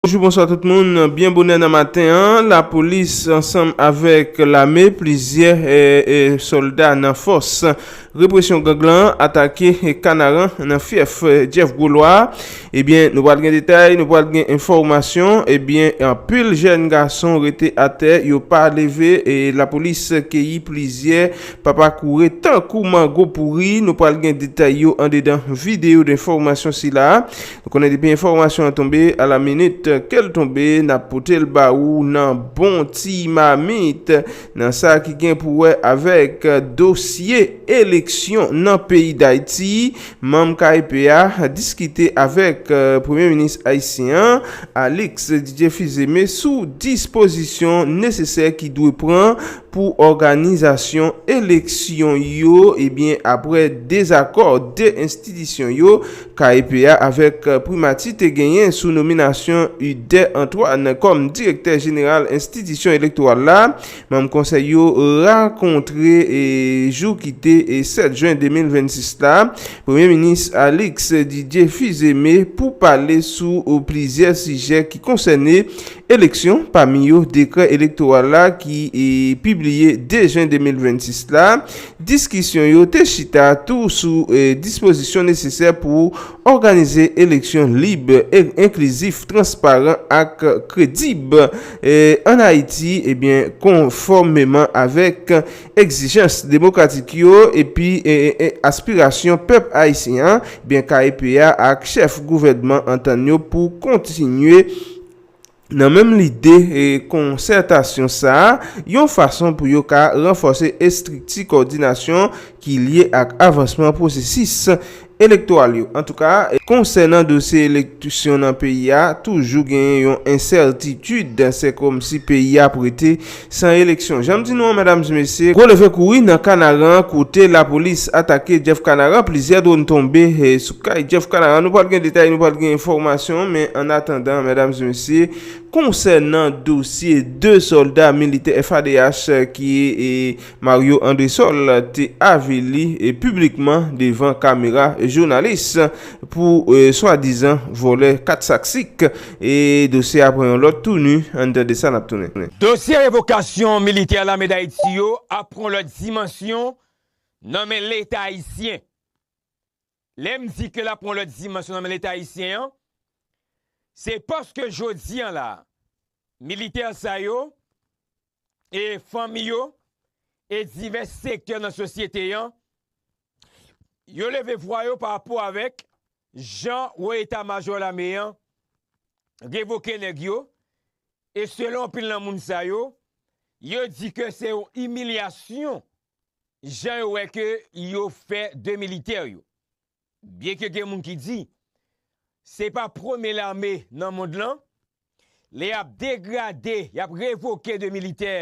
Bonjou bonswa tout moun, byen bonè nan maten an, la polis ansanm avèk lame plizyè sòlda nan fòs represyon gang lan atake kanaran nan fyèf Jeff Gwo Lwa a, ebyen nou pral gen detay, nou pral gen enfòmasyon, ebyen anpil jèn gason rete atè yo pa leve, la polis keyi plizyè Papa koure tankou mango pouri! Nou pral gen detay yo andedan videyo denfòmasyon sila a. Nou konnen depi enfòmasyon an tonbe, a la minit ke l tonbe, n ap pote l ba ou nan bon ti mamit nan sa ki gen pou wè avèk dosye eleksyon nan peyi Dayti. Manm KEP a diskite avèk Premye Minis ayisyen an, Alix Didier Fils-Aimé sou dispozisyon nesesè ki dwe pran pou òganizasyon eleksyon yo ebyen apre dezakò 2 enstitisyon yo, KEP a avèk Primati te genyen sou nominasyon Ude Antoine kòm direktè jeneral enstitisyon elektoral la, manm konsèy yo rakontre jou ki te 7 jen 2026 la, Premye Minis Alix Didier Fils-Aimé pou pale sou plizyè sijè ki konsène Eleksyon, pami yo dekrè elektoral la ki pibliye 2 jen 2026 la, diskisyon yo te chita tou sou dispozisyon nesesè pou òganize eleksyon lib, enklizif, transparan ak kredib ann Ayiti konfòmeman avèk egzijans demokratik yo epi aspirasyon pèp ayisyen an, kep a ak chèf gouvènman antann yo pou kontinye Nan menm lide konsètasyon sa a, yon fason pou yo ka ranfòse estrikti kòdinasyon ki lye ak avansman pwosesis elektoral yo. Antouka, konsènan dosye eleksyon nan peyi a, toujou genyen yon ensètitid, se kòmsi peyi a prete. San eleksyon. Janm di nou an medam e mesye, gwo leve kouri nan kanaran kote lapolis atake Jeff kanaran plizyè dron tonbe sou kay Jeff kanaran nou pral gen detay nou pral gen enfòmasyon men an atandan medam e mesye konsènan dosye 2 sòlda militè FADH ki Mario Andresol te avili piblikman devan kamera jounalis pou swadizan vòlè 4 sak sik. E dosye a pran yon lòt touni, ann tande sa n ap tounen. Dosye revokasyon militè Lame Dayiti yo ap pran yon lòt dimansyon nan men Leta ayisyen. Lè m di ke l ap pran yon lòt dimansyon nan men Leta ayisyen an, se paske jodi an la, militè sa yo e fanmi yo e divès sektè nan sosyete an, yo leve vwa yo pa rapò avèk jan wo eta majò lame an revoke nèg yo e selon anpil nan moun sa yo, yo di ke se yon imilyasyon jan yo wè ke yo fè 2 militè yo. Byenke gen moun ki di, se pa premye lame nan mond lan, lè y ap degrade, y ap revoke de militè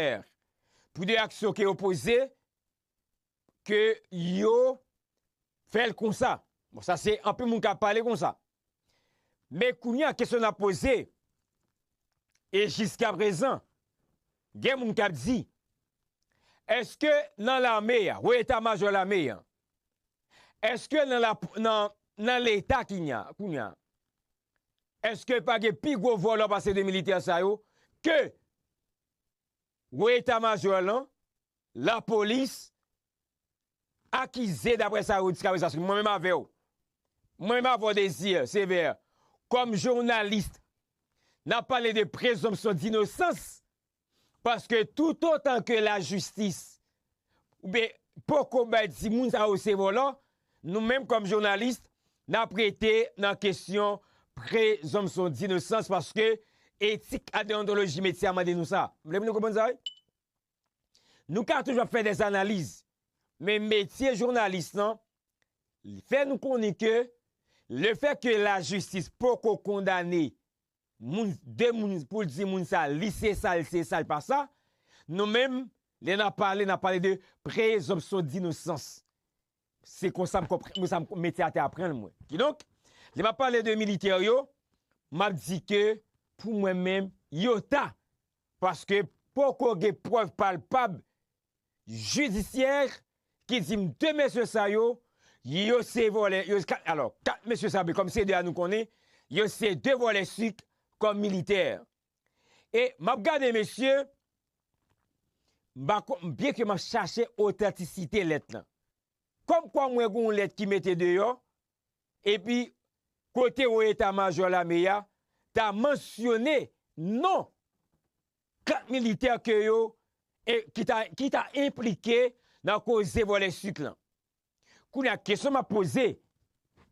pou de aksyon ke yo poze, ke yo fè l konsa. Bon, sa se anpil moun k ap pale konsa. Men kounye a kesyon n ap poze, e jiskaprezan, gen moun k ap di, èske nan lame a, wo eta majò lame a, Eske nan la nan leta kinya kounya eske pa gen pi gwo vòlò pase 2 militè sa yo ke wo eta majò lan la polis akize daprè sa yo di jiskaprezan paske mwen menm avèw mwen menm avèw Désir Sévère kòm journaliste nap pale de prezonpsyon dinosans Paske toutotan ke lajistis oubyen poko bay di moun sa yo se vòlò, nou menm kòm jounalis nap rete nan kesyon prezonpsyon dinosans paske etik ak deyontoloji metye a mande nou sa. M vle pou nou konprann sa wi. Nou ka toujou ap fè dè analiz, men metye jounalis lan fè nou konnen ke lefè ke lajistis poko kondane Moun de moun poul di moun sa lise sa lise sa lipa sa nou menm lè nap pale nap pale de prezonpsyon dinosans se konsa m konprann mwen sa m mete atè aprann mwen kidonk lè map pale de militè yo map di ke pou mwen menm yo ta paske poko gen prèv palpab jidisyè ki di m 2 mesye sa yo, yo se vòlè, yo se 4, alò 4 mesye sa men kòm se 2 a nou konnen, yo se 2 vòlè sik kòm militè. E m ap gade mesye, m pa kon, byen ke m ap chache otantisite lèt lan. Kòm kwa mwen gen yon lèt ki mete deyò, epi kote wo eta majò lame a ta mansyone non 4 militè ke yo ki ta enplike nan koze vòlè sucre lan. Kounye a kesyon map poze,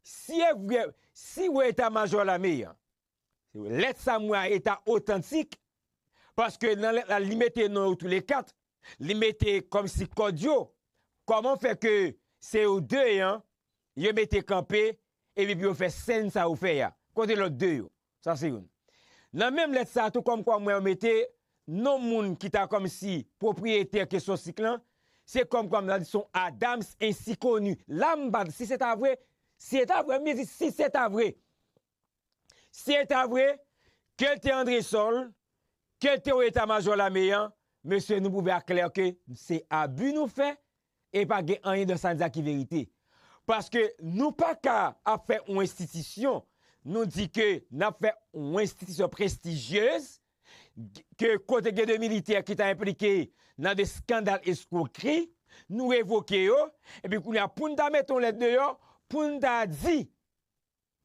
si e vre, si wo eta majò lame an, lèt sa mwen a eta otantik, paske nan lèt la li mete non yo tou le 4, li mete kòm si kòd yo, kòman fè ke se yo 2 an, yo mete kanpe, epi pou yo fè sèn sa yo fè a, kote lòt 2 yo? Sa se youn. Nan menm lèt sa tou kòm kwa m wè yo mete non moun ki ta kòm si pwopriyetè kesyon sik lan, se kòm kwa m ta di son Adams ensi koni. La m pa, si se ta vre, si e ta vre, m byen di si se ta vre, Si eta vre, kel te Andresol, kel te ou eta majò lame an, mesye nou pwouve a klè ke se abu nou fè e pa gen anyen dan sa n di a ki verite. Paske nou pa ka ap fè yon enstitisyon, nou di ke n ap fè yon enstitisyon prestigyez, ke kote gen de militè ki ta enplike nan de skandal eskwokri, nou revoke yo, epi kounye a pou n ta mete yon lèt deyò, pou n ta di,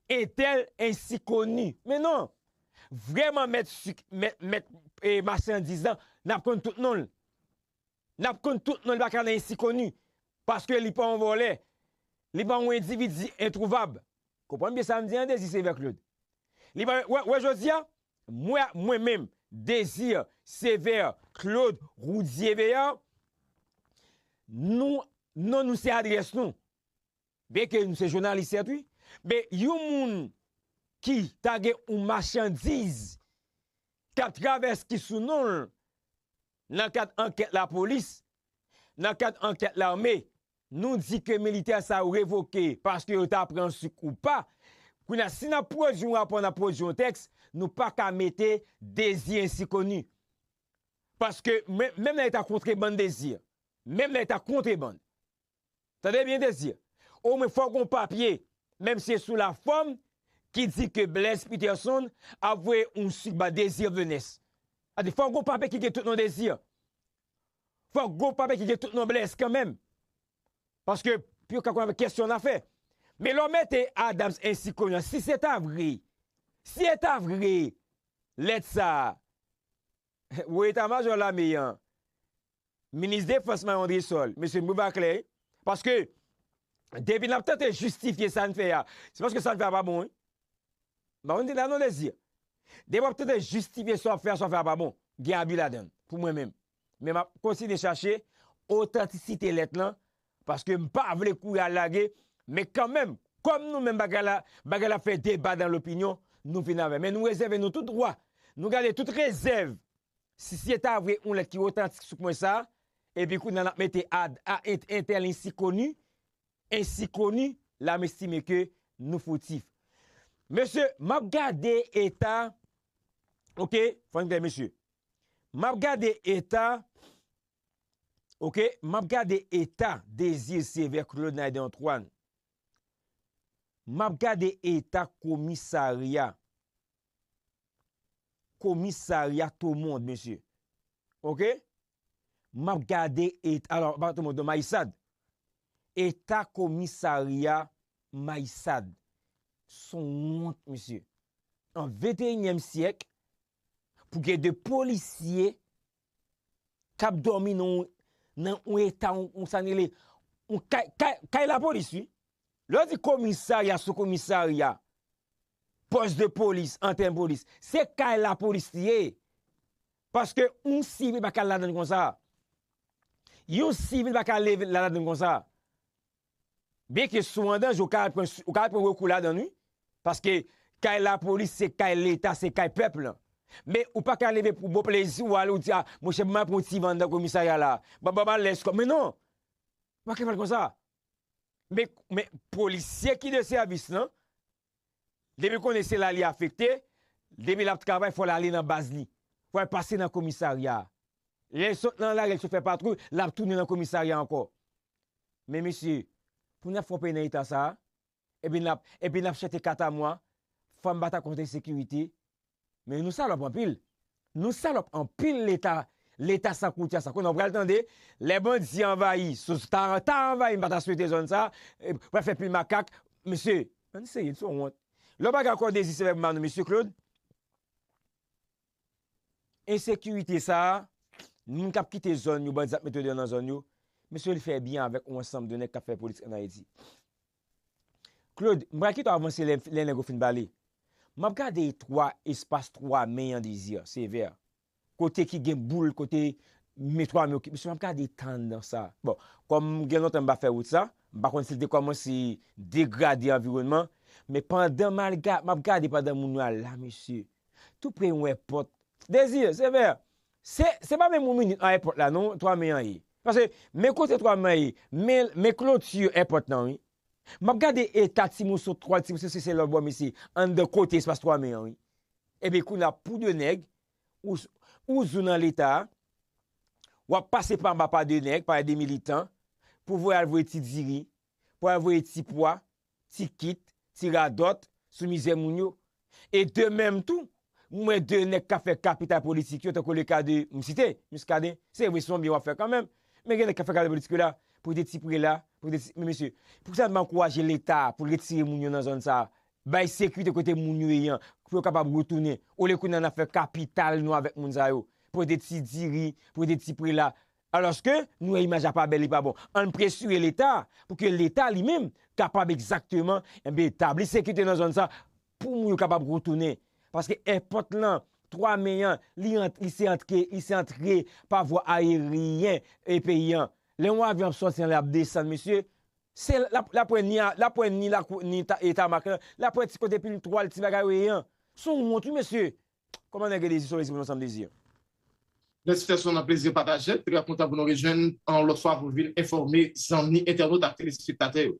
Un tel ainsi connu men non vrèman mèt suk mèt machandiz lan nap konn tout nonl nap konn tout nonl li paka nan ainsi connu paske li pa yon vòlè li pa yon endividi entrouvab konprann byen sam di an Désir Sévère Claude li pa yon wè jodia mwen mwen menm Désir Sévère Claude Roudier Béar nou non nou se adrès nou Beke m se jounalis yet wi men yon moun ki ta gen yon machandiz kap travèse ki sou non l nan kad ankèt lapolis nan kad ankèt lame nou di ke militè sa yo revoke paske yo ta pran suk ou pa kounye a si nap pwodwi yon rapò nap pwodwi yon tèks nou paka mete dezi ensi koni paske menm lè yo ta kontrebann dezi menm lè yo ta kontrebann. Tande byen Désir, omwen fò gon papye, menm si se sou la fòm, ki di ke Blaise Peterson ap voye yon sik ba Désir Venus. Tande, fò gon papye ki gen tout non Désir. Fò gon papye ki gen tout non Blaise kanmenm. Paske pou yo ka konn avèk kèsyon la fè. Men lè w mete Adams en si konnya, si se ta vre, si e ta vre lèt sa a, wo eta majò lame an, Minis Defans nan Andresol, Mesye Mbouva Clay, paske depi nap tante jistifye sa n fè a, se paske sa n fè a pa bon wi. M pa konn si se sa nou vle di. Depi wap tante jistifye sa wap fè a, sa wap fè a pa bon. Gen abi ladan l, pou mwen menm. Men map kontinye chache otantisite lèt lan, paske m pa vle kouri al lage, men kanmenm, kòm nou menm bagay la, bagay la fè deba dan lopinyon, nou vin avè l. Men nou rezève nou tout dwa, nou gade tout rezèv Si se ta vre yon lèt ki otantik sou pwen sa, epi kounye a n ap mete ad a ent entèl ensi koni, ensi koni, la m estime ke nou foutif. Mesye, m ap gade eta, ok, fò n klè mesye, m ap gade eta, ok, m ap gade eta dezi sevè Claude Naiden Antoine. Map gade eta komisarya komisarya tomond mesye ok map gade et alò pa tomond non mayisad eta komisarya mayisad son wont mesye an venteyinyèm syèk pou gen de polisye kap domi nan nan yon eta yon sa rele yon kay kay kay lapolis wi lè yo di komisarya sou komisarya pòs de polis antèn polis se kay lapolis li ye paske yon sivil paka al ladann konsa yon sivil paka leve ladann konsa. Byen ke si w andanje ou ka al pran ou ka al pran rekou ladann wi, paske kay lapolis se kay leta se kay pèp lan. Men ou pa ka leve pou bon plezi w ale ou di a monchè ban m al pran yon ti van anndan komisarya la, ban m al lèche kò m men non! Ou pa ka fè l konsa. Men men polisye ki de sèvis lan Depi konnen se la li afekte, depi l ap travay fò l ale nan baz li. Fò l pase nan komisarya a. Lè l sot nan lari l sot fè patwouy, l ap tounen nan komisarya ankò. Men mesye, pou n ap fè yon peyi nan eta sa a? Epi n ap, epi n ap chante katamwa, fanm batakonsensekirite, Men nou salòp anpil Nou salòp anpil leta Leta san koutya san konnen wap pral tande lè bandi anvayi sous ta ta anvayi m pa ta swete zòn sa pral fè pil makak mesye ann serye n son wont lè w pa gen akò dezi sevèk m ba nou mesye Claude ensekirite sa moun kap kite zòn yo bandi ap mete yo deyò nan zòn yo mesye l fè byen avèk yon ansanm de nèg kap fè politik ann Ayiti. Claude, m pral kite w avanse lè nèg yo fin pale. M ap gade 3 espas 3 men an dezi, sevè. Kote ki gen boul, kote men 3 men yo ki misye m ap gade tann nan sa. Bon, kòm gen lontan m pa fè wout sa, m pa konn si l te kòmanse degrade anviwònman, men pandan m al ga, m ap gade pandan moun yo al la misye. Tou pre yon èpòt, dezi, sevè, Se se pa menm yon minit an èpòt la non 3 me an ye. Paske men kote 3 me an ye, men men kloti èpòt lan wi. M ap gade eta ti moso twal, ti moso sese lòtbò m isi, anndan kote espas 3 me an wi. Epi kounye a pou 2 nèg, ou ou zou nan leta a, w ap pase pa anba pa 2 nèg, pa 2 militan, pou voye al voye ti diri, pou al voye ti pwa, ti kit, ti radòt sou mizè moun yo. E de menm tou, m wè de nèg k ap fè kapital politik yo tankou le ka de, m site, Muscadin, se vre se yon byen w ap fè kanmenm, men gen nèg k ap fè kapital politik yo la, pou de ti prela, pou de ti, men mesye, pou ki sa n pa ankouraje Leta pou l retire moun yo nan zòn sa a, bay sekirite kote moun yo ye an, pou yo kapab retounen, olye kounye a n ap fè kapital nou avèk moun sa yo, pou de ti diri, pou de ti prela, Alòske, nou wè imaj la pa bèl li pa bon. Ann presire leta pou ke leta li menm kapab egzakteman enben tabli sekirite nan zòn sa pou moun yo kapab retounen. Paske èpòt lan, 3 me an, li ant li se antre li se antre pa vwa ayeryen e peyi an. Lè yon avyon ap sòti anlè ap desann mesye, se l ap l ap wè ni a l ap wè ni lakou ni ta e tamak lan, l ap wè ti kote pil twal ti bagay oye an. S on wont wi mesye. Koman nèg rele sou esprime yon sam dezi an? Mèsi frè Son nan plezi pataje, trè kontan pou nou rejwenn an yon lòt fwa pou vin enfòme zanmi entènot ak telespektatè yo.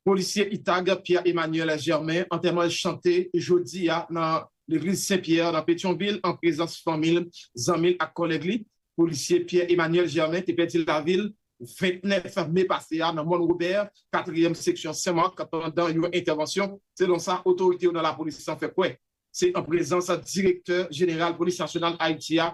Polisye Itag Pierre Emmanuel Germain antèman l chante jodi a nan legliz Sen Pyè nan Petyonvil an prezans fanmi l, zanmi l ak kòlèg li. Polisye Pierre Emmanuel Germain te pèdi lavi l 29 me pase a nan Mòn Robè, katriyèm seksyon Sen Mak pandan yon entèvansyon, selon sa otorite yo nan lapolis lan fè kwè. Se an prezans Direktè Jeneral Polis Nasyonal Ayiti a,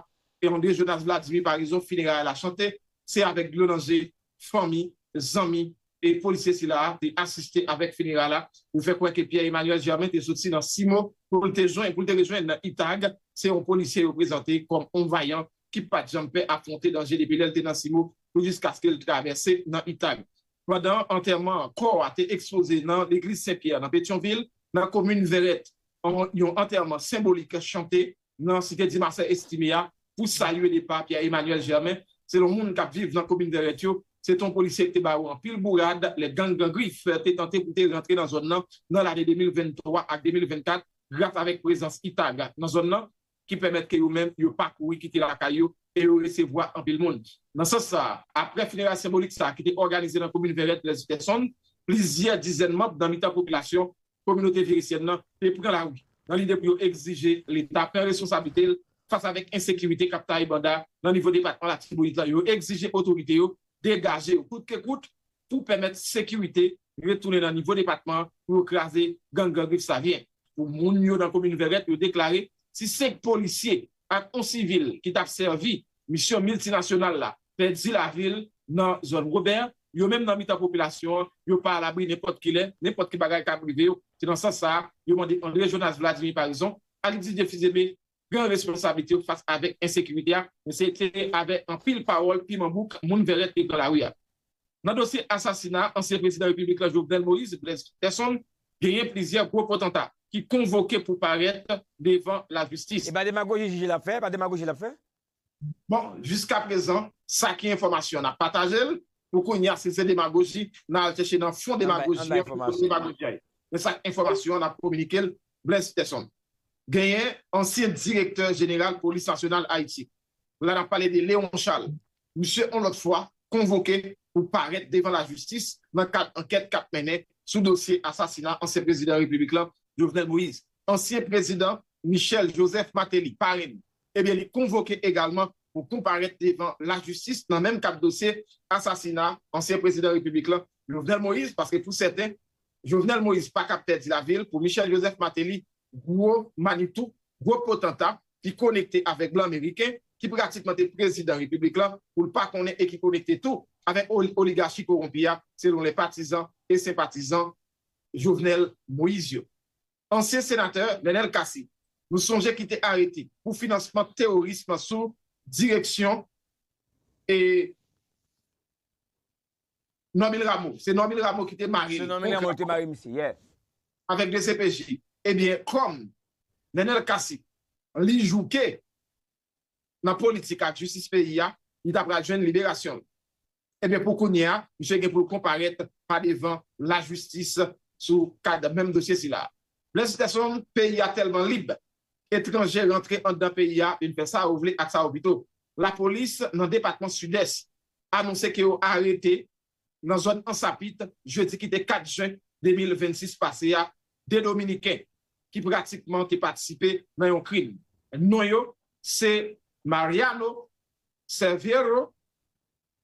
André Jonas Vladimir Paraison fineray la chante, se avèk dlo nan je, fanmi, zanmi e polisye sila a te asiste avèk fineray la pou fè kwè ke Pierre Emmanuel Germain te soti nan Cimo pou l te jwenn pou l te rejwenn Itag, se yon polisye yo prezante kòm yon vayan ki pat janm pè afwonte danje depi lè l te nan Cimo pou jiskaske l travèse nan Itag. pandan antèman an, kò a te ekspoze nan legliz Sen Pyè nan Petyonvil, nan komin Vèrèt, an yon antèman senbolik chante nan site Dimasè Estime a pou salye depa Pierre Emmanuel Germain. Selon moun k ap viv nan komin Vèrèt yo, se te yon polisye ki te ba yo anpil bourad lè gang Gran Grif te tante pou te rantre nan zòn nan nan lane 2023 ak 2024 gras avèk prezans ITAG nan zòn nan. ki pèmèt ke yo menm yo pa kouri kite lakay yo e yo resevwa anpil moun. Nan sans sa a, aprè fineray senbolik sa a ki te òganize nan komin Vèrèt Blèz Pèson, plizyè dizèn manb nan mitan popilasyon kominote Virisyèn nan te pran lari nan lide pou yo egzije Leta pran responsablite l fas avèk ensekirite k ap taye banda nan nivo depatman Latibonit lan. Yo egzije otorite yo degaje yo kout ke kout pou pèmèt sekirite retounen nan nivo depatman pou yo kraze gang Gran Grif sa vyen. Pou moun yo nan komin Vèrèt yo deklare si 5 polisye ak on sivil ki tap sèvi misyon miltinasyonal la pèdi lavi l nan zòn Robè, yo menm nan mitan popilasyon an yo pa alabri nenpòt ki lè, nenpòt ki bagay kab rive yo. Se nan sans sa a yo mande André Jonas Vladimir Paraison, alias Didier Fils-Aimé, pran responsablite yo fas avèk ensekirite a, se te avè anpil pawòl piman bouk moun Vèrèt te pran lari a. Nan dosye asasina ansyen prezidan repiblik la Jovenel Moïse, Blaise Peterson, genyen plizyè gwo potanta ki konvoke pou parèt devan lajistis. E pa demagoji jij la ap fè, pa demagoji l ap fè. Bon, jiska prezan, sa ki enfòmasyon n ap pataje l, pou kounya si l se demagoji, n al chèche nan fon demagoji an pou koz demagoji a ye. Men sa k enfòmasyon an n ap kominike l, Blaise Peterson. Genyen ansyen direktè jeneral polis nasyonal Ayiti. La n ap pale de Léon Charles. Misye yon lòt fwa konvoke pou parèt devan lajistis nan kad ankèt k ap mennen sou dosye asasina ansyen prezidan repiblik lan Jovenel Moïse. Ansyen prezidan Michel Joseph Martelly, parenn, Ebyen li konvoke egalman pou konparèt devan lajistis nan menm kad dosye asasina ansyen prezidan repiblik la Jovenel Moïse paske pou sèten Jovenel Moïse pa ka pèdi lavi l pou Michel Joseph Martelly gwo manitou, gwo potanta ki konekte avèk blan meriken ki pratikman te prezidan repiblik la pou l pa konnen e ki konekte tou avèk oligachi kowonpi a selon lè patizan e senpatizan Jovenel Moïse yo. Ansyen senatè Nenel Cassy, nou sonje ki te arete pou finansman teworism nan sou direksyon e Normil Rameau, se Normil Rameau ki te mare li pwogram avèk dcpj, ebyen kòm Nenel Cassy li jouke nan politik ak jistis peyi a, li ta pral jwenn liberasyon l. Ebyen pou kounye a, misye gen pou l konparèt pa devan lajistis sou kad menm dosye sila a. Blaise Tesson, peyi a tèlman lib, etranje rantre anndan peyi a vin fè sa yo vle ak sa yo pito. Lapolis nan depatman Sidès anonse ke yo arete nan zòn Ansapit jedi ki te 4 jen 2026 pase a 2 dominiken ki pratikman te patisipe nan yon krim. Non yo se Mariano Serviero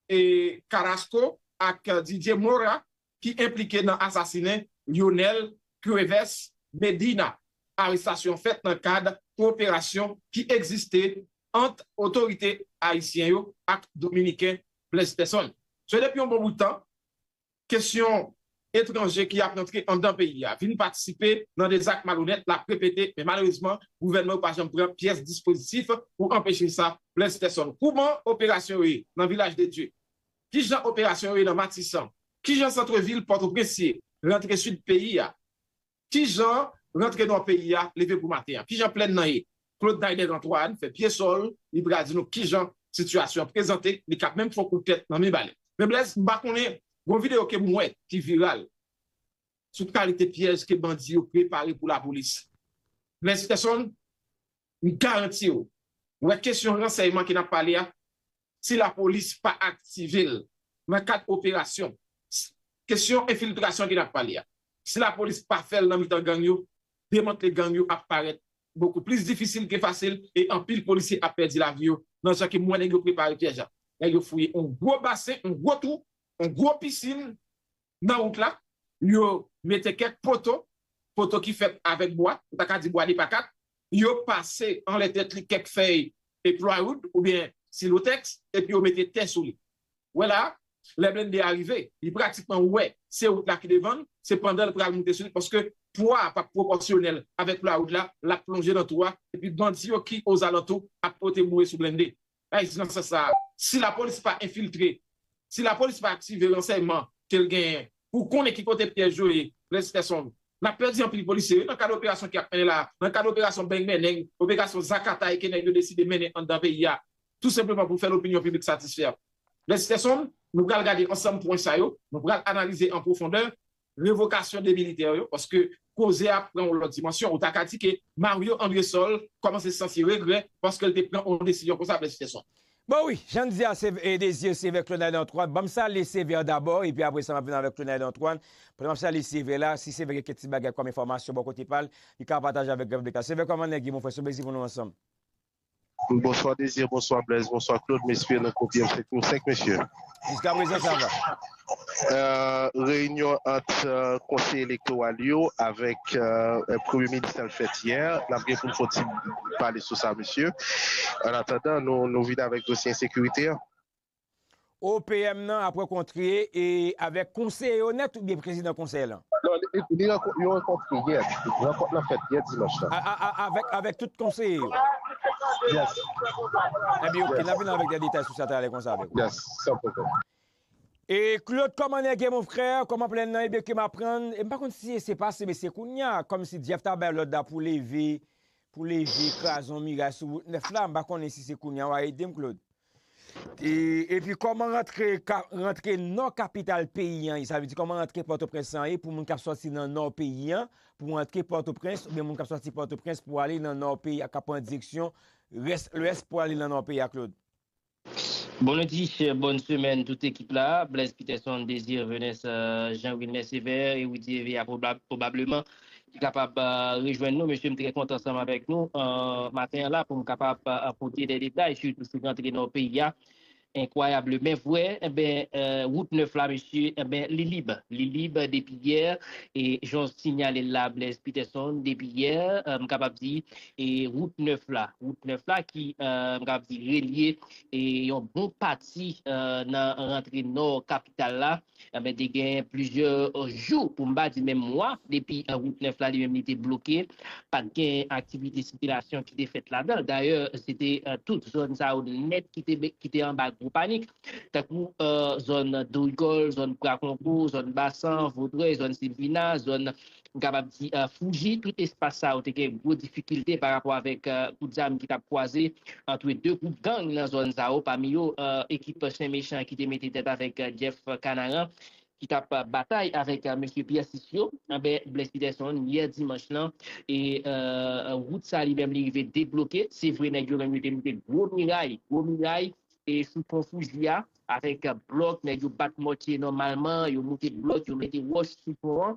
e Carrasco ak Didier Mora ki enplike nan asasinen Lyonel Cuevas Medina. Arestasyon fèt nan kad koperasyon ki egziste ant otorite ayisyen yo ak dominiken Blaise Peson, Se depi yon bon bout tan, kesyon etranje ki ap rantre anndan peyi a, vin patisipe nan de zak malonèt l ap repete, men malerezman, gouvènman yo pa janm pran pyès dispozitif pou anpeche sa. Blaise Peson, Kouman operasyon yo ye nan Vilaj de Dye? Ki jan operasyon yo ye nan Matisan? Ki jan santrevil Pòtoprens ye rantre sid peyi a? Kijan rantre nò peyi a leve pou maten an? Kijan plèn nan ye? Claude Naider Antoine fè pye so l, li pral di nou kijan sitiyasyon an prezante li kap menm fè w kout tèt nan Mibalè. Men Blaise, m pa konnen, gon videyo ke m wè ki viral sou kalite pyèj ke bandi yo prepare pou lapolis. Blaise Peson, M garanti w, wè kesyon ransèyman ke n ap pale a, si lapolis pa aktive l nan kad operasyon, kesyon enfiltrasyon ke n ap pale a, si lapolis pa fè l nan mitan gang yo, demantle gang yo ap parèt bokou plis difisil ke fasil e anpil polisye ap pèdi lavi yo nan jan ke m wè nèg yo prepare pyèj la. Nèg yo fouye yon gwo basen, yon gwo twou, yon gwo pisin Nan wout la, yo mete kèk poto, poto ki fèt avèk bwa, ou ta ka di bwa depakat, yo pase anlè tèt li kèk fèy plywood oubyen silotèks epi yo mete tè sou li. Wè la a, lè blennde a rive, li pratikman wè se wout la ki devan l, se pandan l pral moute sou li paske pwa a p ap pwopòsyonèl avèk plywood la, l ap plonje nan twou a epi bandi yo ki ozalantou ap pote boure sou blennde. Sa di nan sans sa a, si lapolis pa enfiltre, si lapolis pa aktive ransèyman ke l genyen pou konnen ki kote pyèj yo ye, Blaise Kesson, n ap pèdi anpil polisye wi nan kad operasyon ki ap mennen la a, nan kad operasyon beng menneng, operasyon zakatay ke nèg yo deside mennen anndan peyi a tou senpleman pou fè lopinyon piblik satisfè. Blaise Kesson, nou pral gade ansanm pwen sa yo, nou pral analize an pwofondè, revokasyon 2 militè yo paske koze a pran yon lòt dimansyon. Ou ta ka di ke Mario Andresol kòmanse santi regrè paske l te pran yon desizyon konsa, Blaise Peterson. Bon wi, jan n di a se e dezi se vè Claude Antoine. Ban m salye se vè dabò epi apre sa m ap vin avèk Claude Antoine. Pandan m ap salye se vè la, si se vè gen kèk ti bagay kòm enfòmasyon bò kote pa l, li ka pataje avèk gran piblik la. Se vè kòman nèg ye mon frè? Se yon plezi pou nou ansanm. Bonswa Désir bonswa Blaise bonswa Claude m espere nou kopye m fèt nou 5 mesye. Jiska prezan sa va. Reyinyon ant konseye elektoral yo avèk premye minis la fèt yè, n ap gen pou n fè yon ti pale sou sa mesye. Annatandan nou vini avèk dosye ensekirite an. OPM nan ap rankontre avèk konseye yo nèt oubyen prezidan konsèy lan? Non, li rankontre yè. Rankont lan fèt yè dimanch lan. Avèk tout konseye yo? Yes. Enben ok, n ap vini avèk de detay sou sa talè konsa avèk ou. Yes, san pwoblèm. E Claude kòman nèg ye mon frè, kòman plèn nan, ebyen ke m aprann, e m pa konn si se pase men se kounya, kòmsi Jeff ta bay lòd la pou leve Pou leve krazon miray sou wout 9 la, m pa konnen si se kounya w a ede m Claude. Epi kòman rantre nò kapital peyi an ye, sa vle di kòman rantre Pòtoprens lan ye pou moun k ap sòti nan nò peyi an pou antre Pòtoprens oubyen moun k ap sòti Pòtoprens pou ale nan nò peyi a k ap pran direksyon lwès pou ale nan nò peyi a Claude. Bon lundi, bòn semèn tout ekip la, Blaise Peterson, Désir Venus, Jean Wilner Sévère et Rudy Hervé a probablement ki kapab rejwenn nou. Mesye m trè kontan ansanm avèk nou maten an la pou m kapab pote de detay sitou sou rantre nan peyi a enkwayable men vwè enben wout 9 la mesye enben li lib, li lib depi yè e jan w sinyale l la Blaise Peterson depi yè m kapab di e wout nèf la, wout nèf la ki m kapab di relye e yon bon pati nan rantre nò kapital la anben te gen plizyè jou pou m pa di menm mwa depi wout nèf la li menm li te bloke pa t gen aktivite sikilasyon ki te fèt ladan l dayè se te tout zòn sa yo nèt ki te anba gwo panik tankou zòn dorigòl, zòn prakongo, zòn basan, vodrèy, zòn silvina, zòn m kapab di Fuji, tout espas sa yo te gen gwo difikilte pa rapò avèk kout zam ki t ap kwaze antre 2 gwoup gang nan zòn sa yo, pami yo ekip Chen Mechan ki te mete tèt avèk Jeff Kanaran ki t ap batay avèk mesye Pierre 6 yo. Anben, Blaise Peterson, yè dimanch lan, e wout sa li menm li rive debloke, se vre nèg yo menm yo te moute gwo miray, gwo miray sou pon Fuji a avèk blòk, nèg yo bat mòtye nòmalman, yo moute blòk, yo mete wòch sou pon an.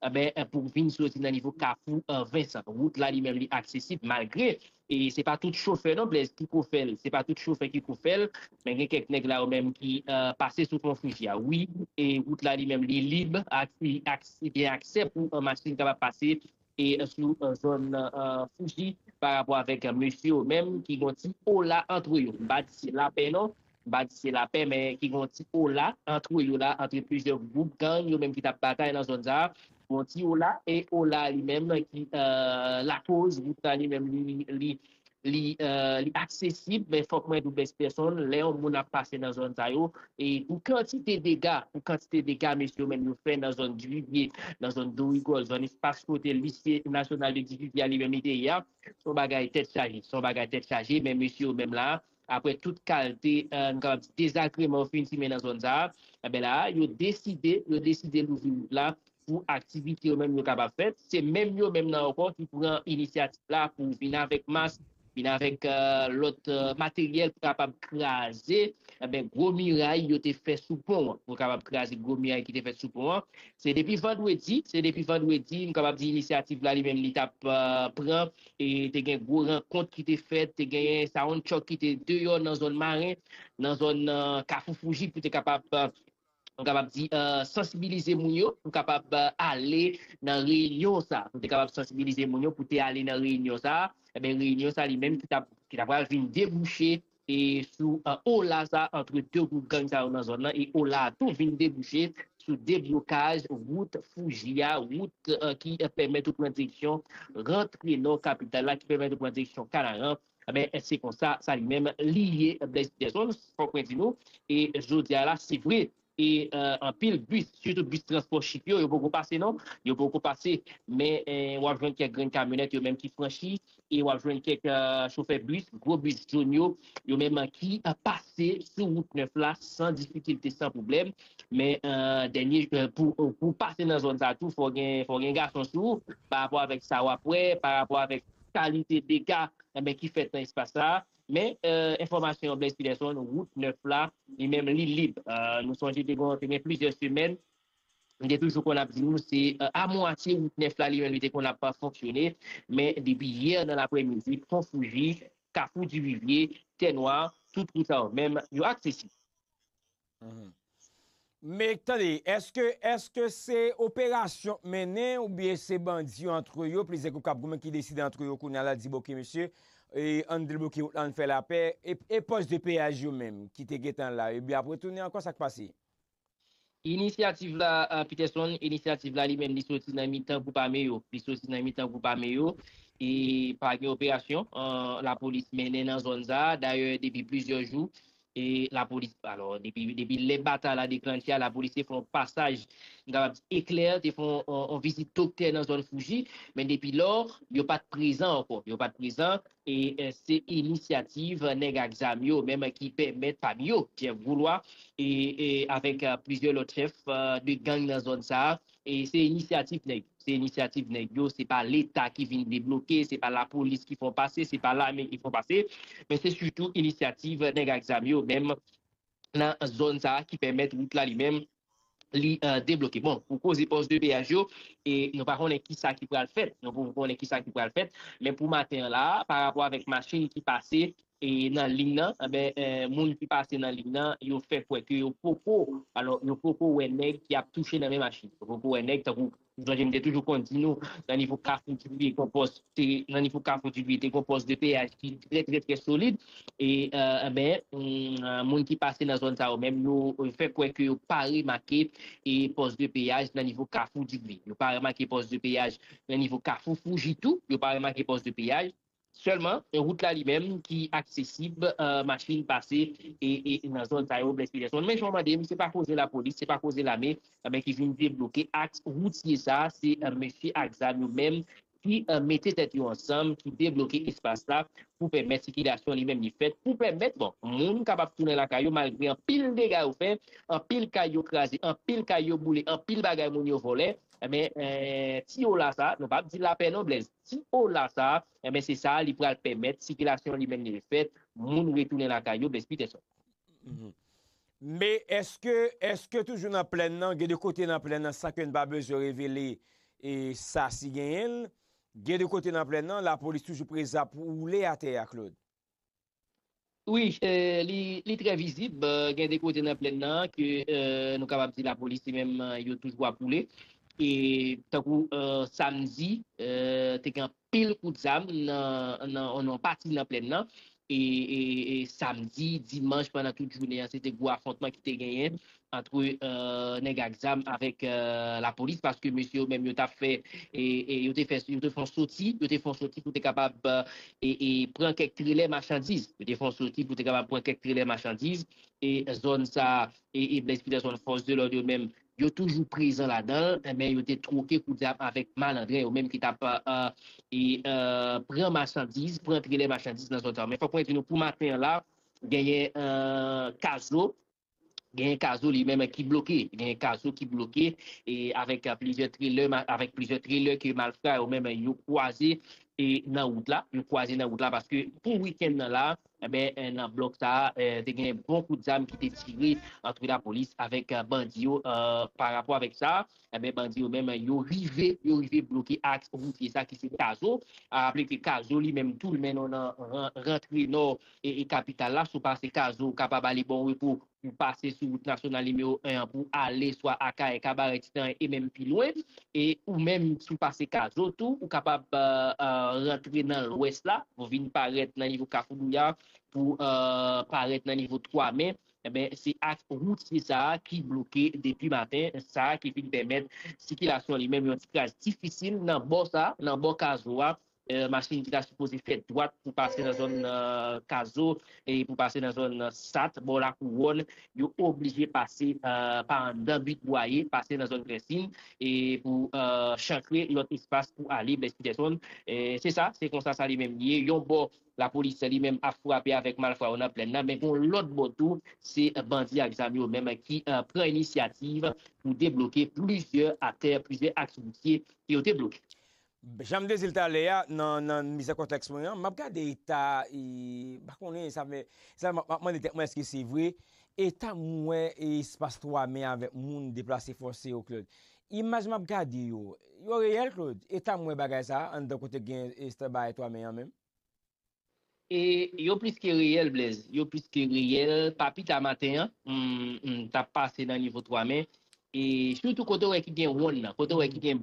Anben, pou w vin soti nan nivo Kafou Vincent, wout la li menm li aksesib malgre e se pa tout chofè non Blaise ki ko fè l, se pa tout chofè ki ko fè l, men gen kèk nèg la yo menm ki pase sou pon Fuji a wi e wout la li menm li lib ak li gen aksè pou machin kapab pase e sou zòn Fuji pa rapò avèk mesye yo menm ki gon ti ola antre yo, m pa di se lapè non. Bandi se lapè men ki gen yon ti ola antre yo la, antre plizyè gwoup gang yo menm ki t ap batay nan zòn sa a. Yon ti ola, e ola a li menm ki lakoz wout la li menm li aksesib men fòk mwen di w best person lè yon moun ap pase nan zòn sa yo e pou kantite dega pou kantite dega mesye yo menm yo fè nan zòn Divivye, nan zòn Dorigòl, zòn espas kote lise nasyonal de Divivye a li menm li te ye a s on bagay tèt chaje s on bagay tèt chaje men mesye yo menm la a Aprè tout kalte nou kapab di dezagreman fin simen nan zòn sa a, enben la a yo deside, yo deside louvri wout la pou aktivite yo menm yo kapab fèt. Se menm yo menm nan ankò ki pran inisyativ la pou vin avèk mas, vin avèk lòt materyèl pou kapab kraze enben gwo miray yo te fè sou pon an, pou kapab kraze gwo miray ki te fèt sou pon an. Se depi vandredi, se depi vandredi nou kapab di inisyativ la li menm li t ap pran E te gen gwo rankont ki te fèt, te genyen sound truck ki te deyò nan zòn Maren, nan zòn Kafou Fouji pou te kapab, m kapab di, sansibilize moun yo pou kapab ale nan reyinyon sa, pou te kapab sansibilize moun yo pou te ale nan reyinyon sa, enben reyinyon sa li menm ki ta pral vin debouche e sou ola sa antre 2 gwoup gang sa yo nan zòn nan e ola a tou vin debouche sou deblokaj wout Fuji a, wout ki pèmèt ou pran direksyon rantre nò kapital la, ki pèmèt ou pran direksyon Kanaran, enben se konsa sa li menm li ye Blaise Peterson, fòk mwen di nou e jodi a la se vre E anpil bis, sitou bis transpò chip yo, yo poko pase non. Yo poko pase. Men w ap jwenn kèk grenn kamyonèt yo menm ki franchi e w ap jwenn kèk chofè bis, gwo bis jón yo, yo menm ki pase sou wout nèf la san difikilte, san pwoblèm. Men dènye, pou w pase nan zòn sa tou fò w gen gason sou ou parapò avèk sa w ap wè, parapò avèk kalite dega ki fèt nan espas sa a. Men enfòmasyon Blaise Peterson, wout 9 la, li menm li lib. Nou sonje te gen plizyè semèn, m te toujou konn ap di nou se a mwatye wout 9 la li menm li te konn ap fonksyone, men depi yè nan laprè midi, Pon Fouji, Kafou Divivye, Tènwa, tout wout sa yo menm, yo aksesib. Men tande eske eske se operasyon k mennen ou byen se bandi yo antre yo plizyè gwoup kap goumen ki deside antre yo kounya la di bon ok mesye ann debloke wout lan ann fè lapè e pòs de peyaj yo menm ki te gentan la yo byen ap retounen ankò sak pase? Inisyativ la Peterson inisyativ la li menm li soti nan mitan gwoup ame yo li soti nan mitan gwoup ame yo e pa gen operasyon lapolis mennen nan zòn sa dayè depi plizyè jou E lapolis, alò, depi, depi lè batay la deklanche a, lapolis te fè yon pasaj, m kapab di eklè, te fè yon, yon vizit doktè nan zòn Fouji, men depi lò, yo pa t prezan ankò, yo pa t prezan, e se inisyativ nèg ak zam yo menm ki pèmèt, pami yo, Jeff Goulois, e, e avèk plizyè lòt chèf de gang nan zòn sa a, Se inisyativ nèg yo, se inisyativ nèg yo, se pa leta ki vin debloke, se pa lapolis ki fè w pase, se pa lame ki fè w pase, men se sitou inisyativ nèg ak zam yo menm nan zòn sa a ki pèmèt wout la li menm li debloke. Bon, pou koze pòs de peyaj yo, nou pa konnen ki sa ki pral fèt, nou poko konnen ki sa ki pral fèt, men pou maten an la a, parapò avèk machin ki pase, e nan liy nan anben moun ki pase nan liy nan yo fè kwè ke yo poko alò yo poko wè nèg ki ap touche nan men machin yo poko wè nèg tankou nou sonje m te toujou konn di nou nan nivo kafou dibouye gon pòs te nan nivo kafou dibouye te gon pòs de peyaj ki trè trè trè solid e anben moun ki pase nan zòn sa yo menm yo fè kwè ke yo pa remake e pòs de peyaj nan nivo kafou dibouye yo pa remake pòs de peyaj nan nivo kafou fouji tou yo pa remake pòs de peyaj Sèlman wout la li menm ki aksesib machin pase nan zòn sa yo, Blaise Peterson. Men jan w mande m, se pa koze lapolis, se pa koze lame ki vin debloke aks woutye sa. Se mesye ak zam yo menm ki mete tèt yo ansanm, ki debloke espas la pou pèmèt sikilasyon li menm li fèt, pou pèmèt bon moun kapab tounen lakay yo malgre anpil dega yo fè, anpil kay yo kraze, anpil kay yo boule, anpil bagay moun yo vòlè. Men tiyo la sa, nou pa p di lapè non Blèz. Ti Ola sa a, enben se sa a li pral pèmèt sikilasyon li menm li e fèt, moun retounen lakay yo, Blaise Peterson. Men, èske, èske toujou nan plèn nan, gen de kote nan plèn nan san ke n pa bezwen revele e sa si genyen l, gen de kote nan plèn nan lapolis toujou prezan pou woule atè a, Claude? Wi li trè vizib gen de kote nan plèn nan ke nou kapab di lapolis li menm yo toujou ap woule e tankou samdi te gen anpil kout zam nan pati nan plèn nan e samdi, dimanch pandan tout jounen an se te gwo afontman ki te genyen antre nèg ak zam avèk lapolis paske mesye yo menm yo tap fè e yo te fè yo te fon soti yo te fon soti pou te kapab e pran kèk trelè machandiz yo te fon soti pou te kapab pran kèk trelè machandiz e zòn sa e Blaise Peterson fòs de lòd yo menm yo toujou prezan ladan men yo te twoke kout zam avèk malandren yo menm ki tap e pran machandiz pran trelè machandiz nan zòn sa men fòk mwen di nou pou maten an la genyen kazo Genyen Kazou li menm ki bloke. Genyen Kazou ki bloke e avèk plizyè trelè, avèk plizyè trelè ke malfra yo menm yo kwaze e nan wout la. Yo kwaze nan wout la paske pou wikenn nan la, enben nan blòk sa a, te gen bon kout zam ki te tire antre lapolis avèk bandi yo parapò avèk sa a. Enben bandi yo menm yo rive yo rive bloke aks woutye sa ki se Kazo. A raple ke Kazo li menm tou li mennen w nan rantre nò e kapital la. Si w pase Kazo ou kapab ale Bon Repo pou pase sou wout nasyonal nimewo 1 an pou ale swa Akayè, Kabarè, Titanyen e menm pi lwen. E ou menm si w pase Kazo tou ou kapab rantre nan lwès la pou vin parèt nan nivo Kafou Douyar pou parèt nan nivo 3 me Enben, se aks woutye sa a ki bloke depi maten sa a ki fin pèmèt sikilasyon li menm yon ti kras difisil nan bò sa, nan bò Kazo a. Machin ki ta sipoze fè dwat pou pase nan zòn Kazo e pou pase nan zòn Sat, bò Lakouwòn, yo oblije pase pa anndan Bit Bwaye, pase nan zòn Grèsin e pou chankre lòt espas pou ale Blèz Pitèsonn. Se sa, se konsa sa li menm ye. Yon bò, Lapolis li menm ap frape avèk malfra yo nan plèn nan, men gen yon lòt bò tou se bandi ak zam yo menm ki pran inisyativ pou debloke plizyè atè, plizyè aks woutye ke yo te bloke. Jan m te di l talè a nan mize kontèks mwen an, m ap gade eta, m pa konnen, sa fè, sa m ap mande tèt mwen èske se vre, eta m wè espas 3 me avèk moun deplase fòse yo Claude, Imaj map gade yo, yo reyèl Claude? Etam wè bagay sa anndan kote gen Esther Bae 3 men an menm? E yo plis ke reyèl Blaise, yo plis ke reyèl, pa pita maten an m tap pase nan nivo 3 men e sitou kote w wè ki gen wonn nan, kote w wè ki gen.